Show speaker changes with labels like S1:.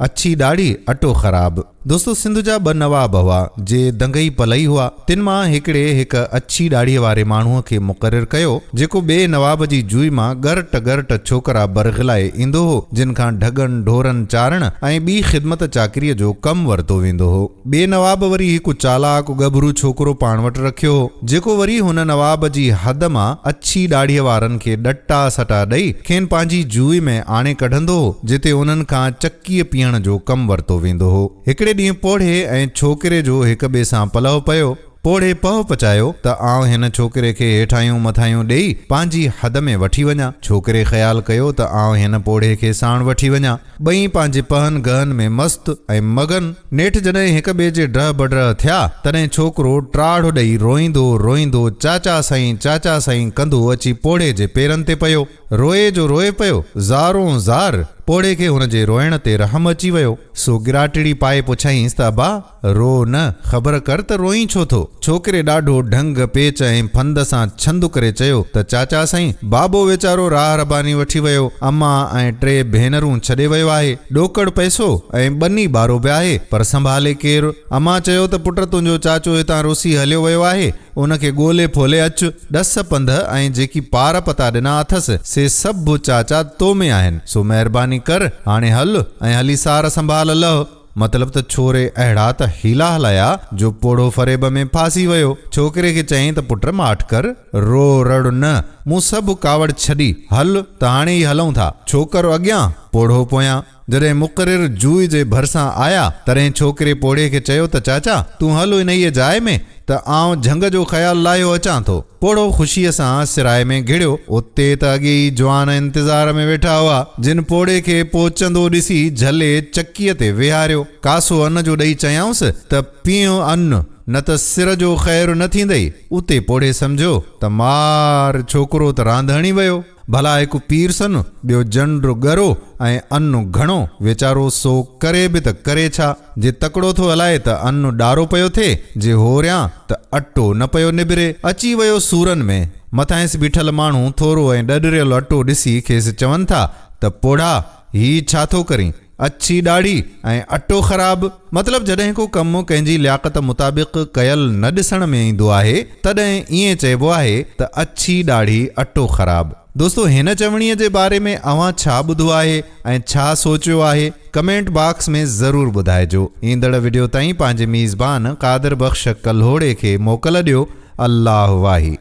S1: اڇي ڏاڙهي، اٽو خراب. دوستو سنڌ جا ٻه نواب هئا، جي دنگئي پلئي هئا. تن مان هڪڙي هڪ اڇي ڏاڙهيء واري ماڻهوء کي مقرر ڪيو، جيڪو ٻئي نواب جي جوئي مان ڳرٽ ڳرٽ ڇوڪرا برغلائي ايندو هو، جن کان ڍڳن ڍورن چارڻ ۽ ٻي خدمت چاڪريء جو ڪم ورتو ويندو هو. ٻئي نواب وري هڪ چالاڪ ڳڀرو ڇوڪرو پاڻ وٽ رکيو هو، جيڪو وري هن نواب جي حد مان اڇي ڏاڙهيء وارن کي ڏٽا سٽا ڏئي، کين پنهنجي جوئي ۾ آڻي ڪڍندو هو، جتي انهن کان چڪيء پيهڻ جو ڪم ورتو ويندو هو. هڪڙي ڏينهن پوڙهي ۽ ڇوڪري جو هڪ ٻئي سان پلئه پيو. پوڙهي پهه پچايو ته آئون هن ڇوڪري کي هيٺاهيون مٿاهيون ڏيئي، پنهنجي حد ۾ وٺي وڃان. ڇوڪري خيال ڪيو ته آئون هن پوڙهي کي ساڻ وٺي وڃان. ٻئي پنهنجي پهن گهن ۾ مست ۽ مگن. نيٺ جڏهن هڪ ٻئي جي ڊهه بڊهه ٿيا، تڏهن ڇوڪرو ٽاڙهه ڏئي روئيندو روئيندو چاچا سائين چاچا سائين ڪندو اچي پوڙهي جي پيرن تي پيو. روئي جو روئي پيو، زارون زار. پوڙهي کي هن جي روئڻ تي رحم اچي ويو، سو ڳراٽڙي پائي پڇيائينس ته ابا! رو نه، خبر ڪر ته روئين ڇو ٿو؟ ڇوڪري ڏاڍو ڍنگ، پيچ ۽ ڦند سان ڇند ڪري چيو ته چاچا سائين، بابو ويچارو راهه رباني وٺي ويو، امان ۽ ٽي ڀينرون ڇڏي ويو آهي، ڏوڪڙ پئسو ۽ ٻني ٻارو به آهي، پر سنڀالي ڪير؟ امان چيو ته پٽ تنهنجو چاچو هتان رسي هليو ويو آهي، ان کي ڳولي ڦولي اچ، ڏس پنڌ ۽ جيڪي پار پتا ڏنا اٿس، سي سڀ چاچا تو ۾ آهن، سو مهرباني ڪر، هاڻي هل ۽ هلي سار سنڀال لهه. مطلب ته ڇوري اهڙا ته حيلا هلايا جو پوڙهو فريب ۾ ڦاسي ويو. ڇوڪري کي چيائين ته پٽ ماٺ ڪر، رو رڙ نه، مون سڀ ڪاوڙ ڇڏي، هل ته هاڻي ئي هلئون ٿا. ڇوڪرو اڳيان، پوڙهو پويان. جڏهن مقرر جوء جي ڀرسان آيا، تڏهن ڇوڪري پوڙهي کي چيو ته چاچا، تون هل انهيء جاء ۾، ته آئون جهنگ جو خيال لاهيو اچان ٿو. پوڙهو خوشيء سان سرائي ۾ گهڙيو. اتي ته اڳي ئي جوان انتظار ۾ ويٺا هئا، جن پوڙهي کي پهچندو ڏسي جهلي چڪيء تي ويهاريو. ڪاسو ان جو ڏئي چيائونس ته پيئو ان، نه ته سر جو خير نه ٿيندئي. اتي پوڙهي سمجهيو ته مار! ڇوڪرو ته راند هڻي ويو. ڀلا هڪ پير سن، ٻيو جنڊ ڳرو ۽ ان گهڻو، ويچارو سو ڪري به ته ڪري ڇا؟ جي تڪڙو ٿو هلائي ته ان ڏارو پيو ٿئي، جي هوريان ته اٽو نه پيو نبري. اچي ويو سورن ۾. مٿانئس بيٺل ماڻهو ٿورو ۽ ڏڏريل اٽو ڏسي کيس چون ٿا ته پوڙها! هي ڇا ٿو ڪرين؟ اڇي ڏاڙهي ۽ اٽو خراب! مطلب جڏهن ڪو ڪم ڪنهن جي لياقت مطابق ڪيل نه ڏسڻ ۾ ايندو آهي، تڏهن ائين چئبو آهي ته اڇي ڏاڙهي اٽو خراب! دوستو هن چوڻيء جي باري ۾ اوهان ڇا ٻڌو آهي ۽ ڇا سوچيو آهي؟ ڪمينٽ باڪس ۾ ضرور ٻڌائجو. ايندڙ وڊيو تائين پنهنجي ميزبان قادر بخش ڪلهوڙي کي موڪل ڏيو. الله واهي.